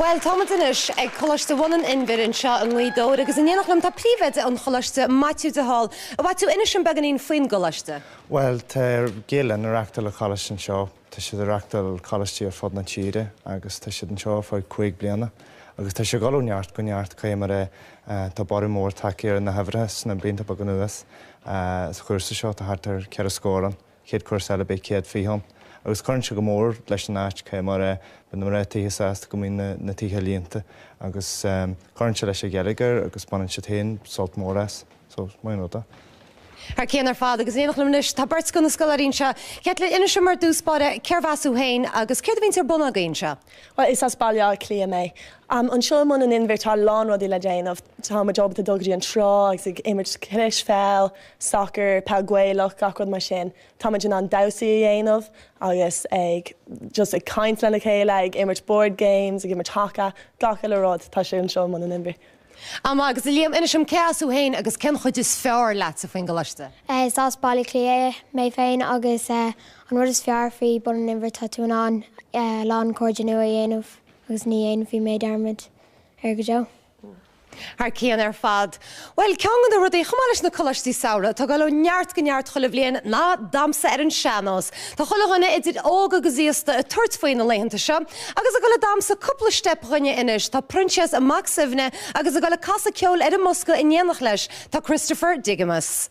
Bhuel, táimid anois ag Coláiste Bhun an Inbhir anseo i nGaoth Dobhair agus in éineacht liom tá Príomhoide an Choláiste, Maitiú de Hál. A Mhaitiú, inis linn beagáinín faoin gColáiste. Bhuel, tá Gael-Linn ag reachtáil an Choláiste anseo. Tá siad ag reachtáil coláistí ar fud na tíre agus tá siad anseo ar feadh cúig bliana agus tá sé ag dhul ó neart go neart. Cad é mar, tá borradh mór tagtha ar na huimhreacha sna blianta beaga anuas. Sa chúrsa seo tá thart ar cheithre scór ann, chéad cúrsa eile beidh céad fiche ann agus cuireann sé go mór leis an áit cad é mar, bíonn na mná tithe sásta go mbíonn na tithe líonta agus cuireann sé leis an gheilleagar agus baineann siad féin sult mór as. So, maith an rud é. Thar cionn ar fad, agus in éineacht liom anois tá beirt de na scoláirí anseo. Caitlín, inis dom ar dtús báire cé as thú féin agus céard a bhíonns ar bun agaibh anseo? Bhuel, is as Baile Átha Cliath mé. Anseo i mBun an Inbhir tá a lán rudaí le déanamh. Tá muid ábalta dul go dtí an trá agus ag imirt cispheil, sacar, peil Ghaelach, gach rud mar sin. Tá muid in ann damhsaí a dhéanamh agus ag just ag caint lena chéile, ag imirt board games, ag imirt haca, gach uile rud, tá sé anseo i mBun an Inbhir. Emma, Agus a Liam, inis dom cé as thú féin agus cén chuid is fearr leatsa faoin gcoláiste? Is as Baile Átha Cliath mé féin agus an rud is fearr faoi Bun an Inbhir tá tú in ann a lán cairde nua a dhéanamh agus ní dhéanfaidh mé dearmad air go deo. Thar cionn ar fad. Bhuel, ceann de na rudaí, chomh maith leis na coláistí samhraidh, atá ag dul ó neart go neart chuile bhliain ná damhsa ar an sean-nós. Tá chuile dhuine idir óg agus aosta ag tabhairt faoi na laethanta seo agus ag dul ag damhsa cúpla steip dhúinne anois, tá Proinsias Mac Suibhne agus ag dul ag casadh ceoil ar an mbosca in éineacht leis tá Christopher Digimus.